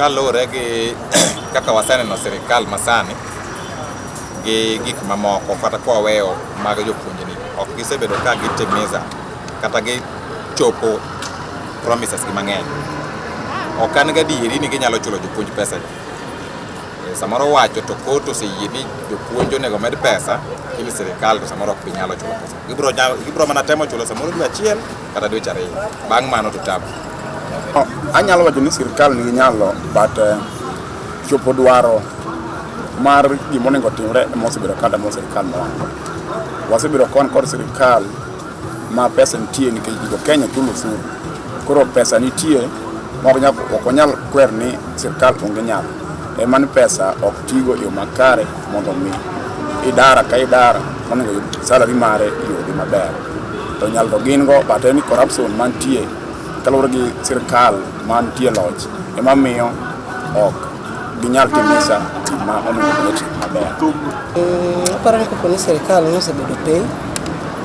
Kaluwore gi kaka waseneno sirikal masani gi gik mamoko kata kwa weyo mag jopuonjni ok gisebedo ka gitimiza kata gichopo promises gi mang'eny. Ok an gadieri ni ginyalo chulo jopuonj pesa. Eh, samoro wacho to kot oseyie ni jopuonj onego omed pesa lakini sirikal to samoro ok binyalo chulo pesa gibro, gibro mana temo chulo samoro dwe achiel kata dweche ariyo bang' mano to tabu oh, anyalo wacho ni sirikal nigi nyalo but uh, chopo dwaro mar gima onego otimre ema osebedo kada mo sirikal mowango wasebedo kon kod sirikal Ma pesa nitie nikech jo Kenya chulo osuru. Koro pesa nitie ok nyal ok onyal kwer ni sirkal onge nyalo. Ema ni pesa ok tigo e yo makare mondo mi idara ka idara monego yud salary mare e yore maber. To nyal to gin go but en ni corruption mantie kaluwore gi sirkal mantie loch ema miyo ok Ginyal timo sa ma onego bed otim maber. Mm, aparo ni kapo ni sirikal nosebedo piny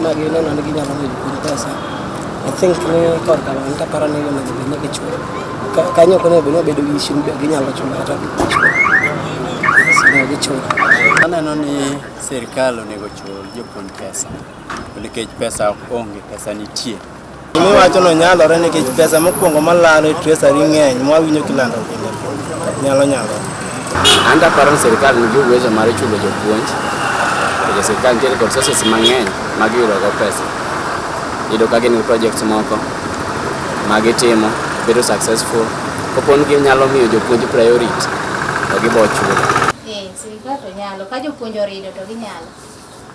ma gineno ni ginyalo yudo piny pesa i think ni korka lony taparo ni onego bed ni gichulo Ka- kanyo ok onego bed ni obedo gi ishu ni be ginyalo chulo kata ok gichulo. Yes, onego gichul Aneno ni sirkal onego chul jopuonj pesa nikech pesa onge, pesa nitie. Miwachono nyalore nikech pesa mokwongo malalo e treasury ng'eny mwawinjo kilando pile nyalo nyalore. An daparo ni sirkal nigi uwezo mar chulo jopuonj to sirkal nitiere kod sources mang'eny ma giyudogo pesa. Iyudo ka gin gi projects moko ma gitimo bedo successful koponi ginyalo miyo jopuonj priority to gibo chulo. Eh, sirkal to nyalo ka jopuonj orido to ginyalo.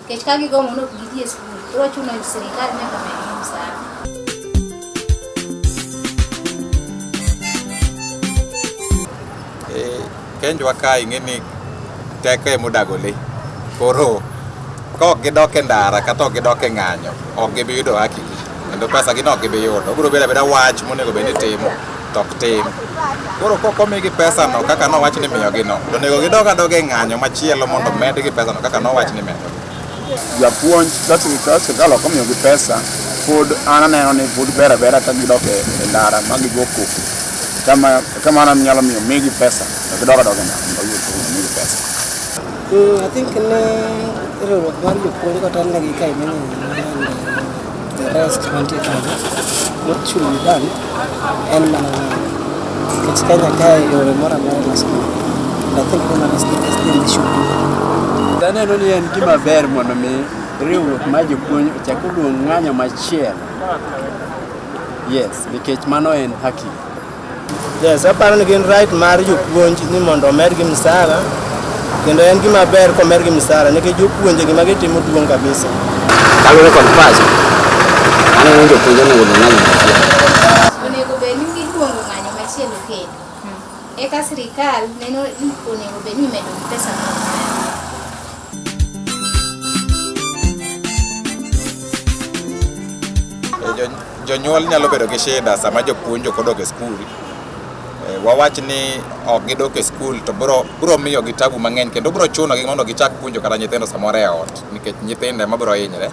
Nikech ka gigomo ni ok gidhi e skul, koro chuno ni sirkal nyaka medgi msara. Eh, Kenjwa ka ing'e ni teko ema odago le. Koro ka ok gidok e ndara kata ok gidok e ng'anyo, ok gibi yudo haki gi. kendo pesa gi nok gibi yudo obiro bedo abeda wach monego bed ni timo to ok tim koro kok omigi pesa no kaka nowach ni miyogi no to onego gidog adoga e ng'anyo machielo mondo medgi pesa no kaka nowach ni medo japuonj ka sirkal ok omiyogi pesa pod an aneno ni pod ber abera ka gidok e e ndara ma gigo koko kama kama an nyalo miyo migi pesa to gidog adoga e ndara mondo oyud koko migi pesa Mm, I think ne riwruok mar jopuonj kata negi ka imene The rest 20,000. What should be done? En mana kech Kenya kae yore mora mora loso. I think women is the best thing they should do. Taneno ni en gima ber mondo mi riwruok ma jopuonj ochak oluong ng'anyo machielo. Yes, nikech mano en haki. Yes, aparo ni gin right mar jopuonj ni mondo omedgi msara kendo en gima ber komergi msara nikech jopuonje gima gitimo duong' kabisa. Kaluwore kod pacha, aneno ni jopuonje onego odhi ng'anyo machielo. Onego bed ni giluongo ng'anyo machielo kendo. Eka sirikal neno ni onego bed ni imedo pesa moro. Jonyuol nyalo bedo gi shida sama jopuonj ok odok e skul. Eh, wawach ni ok gidok e skul to biro miyo gi tabu mang'eny kendo biro chuno gi mondo gichak puonjo kata nyithindo samoro e ot nikech nyithindo ema biro hinyre.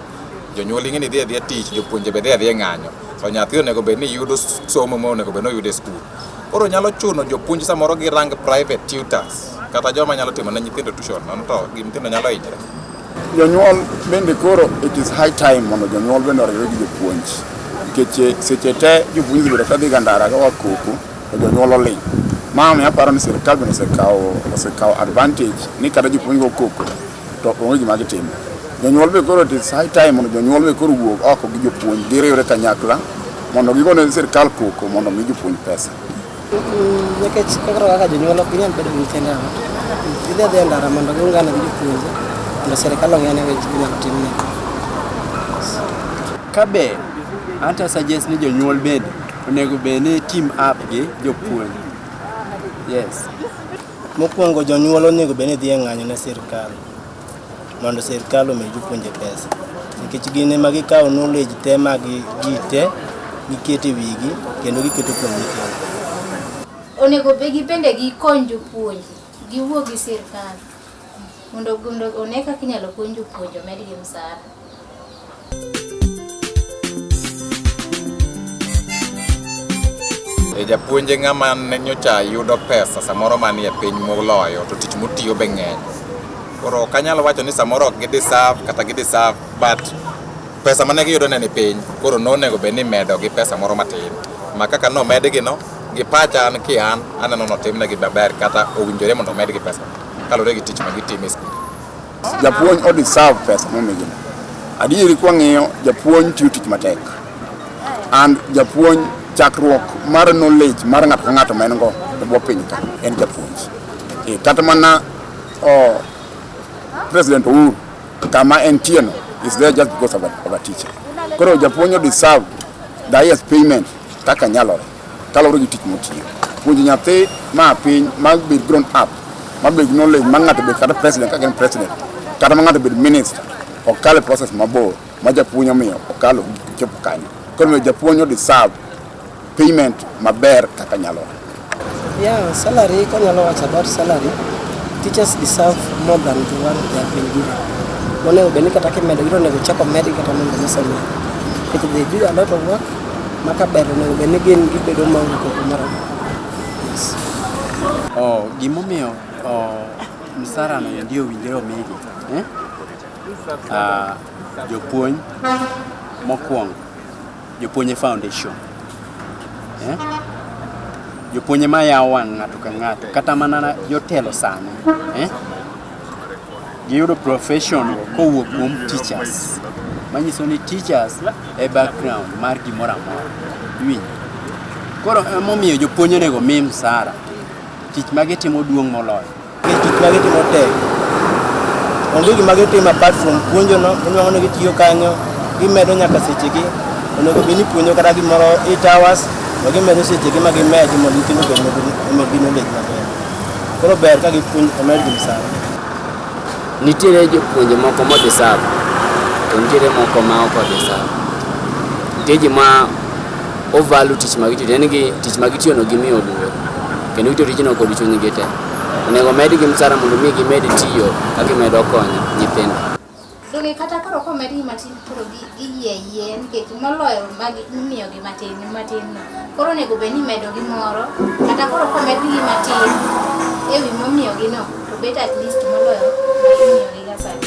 Jonyuol ing'e ni dhi adhiya tich, jopuonje be dhi adhiya ng'anyo. To nyathi onego bed ni yudo somo ma onego bed ni oyudo e skul. Koro nyalo chuno jopuonj samoro girang private tutors kata joma nyalo timo ne nyithindo tuition, nono to nyithindo nyalo hinyre. Jonyuol bende koro it is high time mondo jonyuol bende oriwre gi jopuonj nikech eh, seche te jopuonj bedo ka dhiga ndara ka wakoko to jonyuol oling'. Ma miyo aparo ni sirkal bende osekawo osekawo advantage ni kata jopuonj go koko to onge gima gitimo. Jonyuol be koro it is high time mondo jonyuol be koro wuog oko gi jopuonj giriwre kanyakla mondo gigone sirkal koko mondo omi jopuonj pesa. Nikech koro kaka jonyuol ok nyal bedo gi nyithindo e ot, gidhi adhiya e ndara mondo giungane gi jopuonje mondo sirkal ong'e ane weche minyalo timne. Kabe anta suggest ni jonyuol bende onego bed ni team up gi jopuonj. Yes. Mokwongo jonyuol onego bed ni dhi e ng'anyo ne sirkal. mondo sirkal omi jopuonje pesa nikech gin ema gikawo knowledge te mag ji te giketo e wigi kendo giketo kuom nyithindo. Onego be gibende gikony jopuonj, giwuo gi sirkal mondo mondo one kaka inyalo kony jopuonj omedgi msara. E japuonje ng'ama ne nyocha yudo pesa samoro manie piny moloyo to tich motiyo be ng'eny koro ok anyal wacho ni samoro ok gideserve kata gideserve but pesa mane giyudo ne ni piny koro nonego bed ni medo gi pesa moro matin ma kaka nomedgino gi pacha an ki an aneno notimnegi maber kata owinjore mondo omedgi pesa kaluwore gi tich ma gitimo e skul Japuonj o deserve pesa momigino. Adieri kwa ng'iyo japuonj tiyo tich matek. And japuonj chakruok mar knowledge mar ng'ato ka ng'ato ma en go e bwo piny ka en japuonj. E, kata mana oh, President Uhuru kama en tieno is there just because of a, of a teacher. Koro japuonj o deserve the highest payment kaka nyalore. Kaluwore gi tich motiyo, puonjo nyathi ma piny ma bed grown up ma bed knowledge ma ng'ato bed kata president kaka en president kata ma ng'ato bed minister ok kale process mabor ma japuonj omiyo okalo chopo kanyo. Koro omiyo japuonj odeserve payment maber kaka nyalore. Yeah, salary kanyalo wacho about salary, teachers deserve more than the one they have been given. Monego bed ni kata kimedo gino onego chak omedgi kata mondo mise omi. Because they do a lot of work Maka ber onego bed ni gin gibedo maonge koko moro. Oh, gimomiyo oh, msara no endi owinjore omigi eh? Ah, jopuonj mokwongo jopuonj e foundation eh? jopuonj ema yawo wang' ng'ato ka ng'ato kata mana na- jotelo sani eh? Giyudo profession kowuok kuom teachers. Manyiso ni teachers e background mar gimoro amora. Iwinjo? Koro emomiyo jopuonj onego mi msara. Tich ma gitimo duong' moloyo. Nikech tich ma gitimo tek. Onge gima gitimo apart from puonjono, inuang'o ni gitiyo kanyo, gimedo nyaka sechegi. Onego bed ni puonjo kata gimoro eight hours, to gimedo sechegi ma gimedo mondo nyithindo obed gi knowledge maber. Koro ber ka gipuonj omed gi msara. Nitiere jopuonje moko modeserve to nitiere moko ma ok odeserve. Nitie ji ma ovalu tich ma gitiyo, en gi tich ma gitiyono gimiyo luor kendo gitiyo tijno kod chunygi te. Onego omedgi msara mondo mi gimed tiyo ka gimedo konyo nyithindo. Donge kata koro komedgi matin koro gi- giyie ayie nikech moloyo magi imiyogi matin matin no. Koro onego bed ni imedo gi moro kata koro komedgi matin e wi momiyogi no to bet at least moloyo magi imiyogi ga sani.